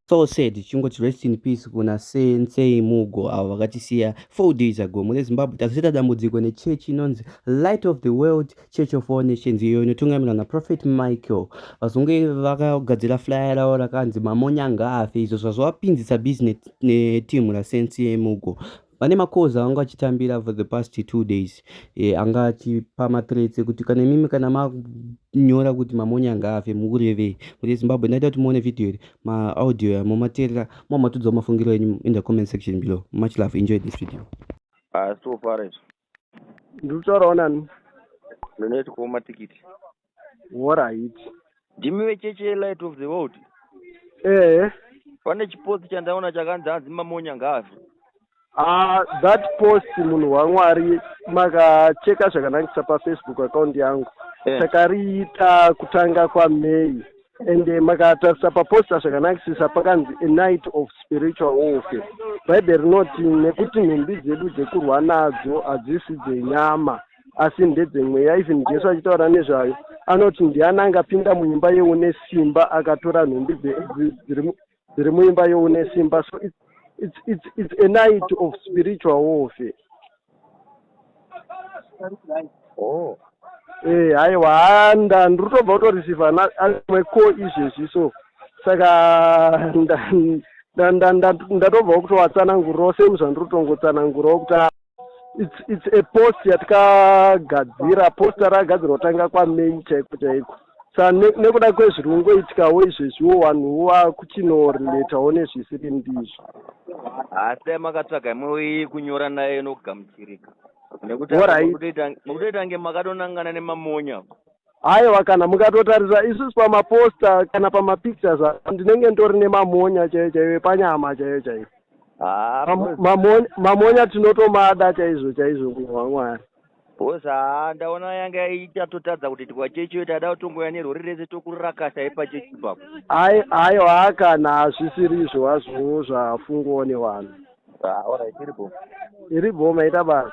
so sad chingot rest in peace kuna sensei mugo avo vakatisiya Four days ago mune Zimbabwe tazoita dambudziko nechechi inonzi Light of the World Church of All Nations iyo inotungamirwa naProphet Michael. Vazungu vakagadzira flyer ravo rakanzi mamonya ngaafe izvo zvazovapinzisa busy netimu raSense yemugo vane makoza vanga vachitambira for the past two days e, anga achipa matrets ekuti kana imimi kana manyora kuti mamonya ngaafe mukurevei kuti zimbabwe ndaita kuti muone vhidhiyo iri ma audio ya momateerera mwa matudzawo mafungiro enyu in the comment section below much love enjoy this video ah so far izvo ndiri kutaurawo nani ndinoita kuwo matikiti worait ndimi vecheche yelight of the world ehe pane chipotsi chandaona chakanzi hanzi mamonya ngaazvo Uh, that post munhu wamwari makacheka zvakanakisa pafacebook account yangu yeah. takariita kutanga kwamay and eh, makatarisa paposta zvakanakisisa pakanzi a night of spiritual warfare bhaibheri rinoti nekuti nhumbi dzedu dzekurwa nadzo hadzisi dzenyama asi ndedzemweya even jesu achitaura nezvayo anoti ndiani angapinda muimba yeune simba akatora nhumbi tiri muimba youne simba so it's, it's, it's, it's a night of spiritual warfare oh. e haiwa handa ndiri kutobva kutoreceiva amwe ko izvezvi so saka ndatobvawo kutowatsanangurirawo same zvandiri kutongotsanangurawo kuti It's, it's a post yatakagadzira post rakagadzirwa kutanga kwamei chaiko chaiko sa nekuda kwezviri kungoitikawo izvezviwo vanhuwo vakuchinorelatawo nezvisiri ndizvo asi amakatsvaga imwe kunyora naye inogamuchirika nekuti mukutoita nge makatonangana nemamonya aiwa kana mukatotarisa isusu pamaposta kana pamapictures ndinenge ndori nemamonya chaiyo chaiyo epanyama chaiyo chaiyo ah, mamonya tinotomada chaizvo chaizvo munhu wamwari bhos haa ndaona yanga ichatotadza kuti tikwachechiyo taida kutongoya nerori rese tokurakasa ipachechi papo aiwa haa kana hazvisiri izvo hazvowo zvafungowo nevanhu ah, orit iri bhoma iri bhoma ita basa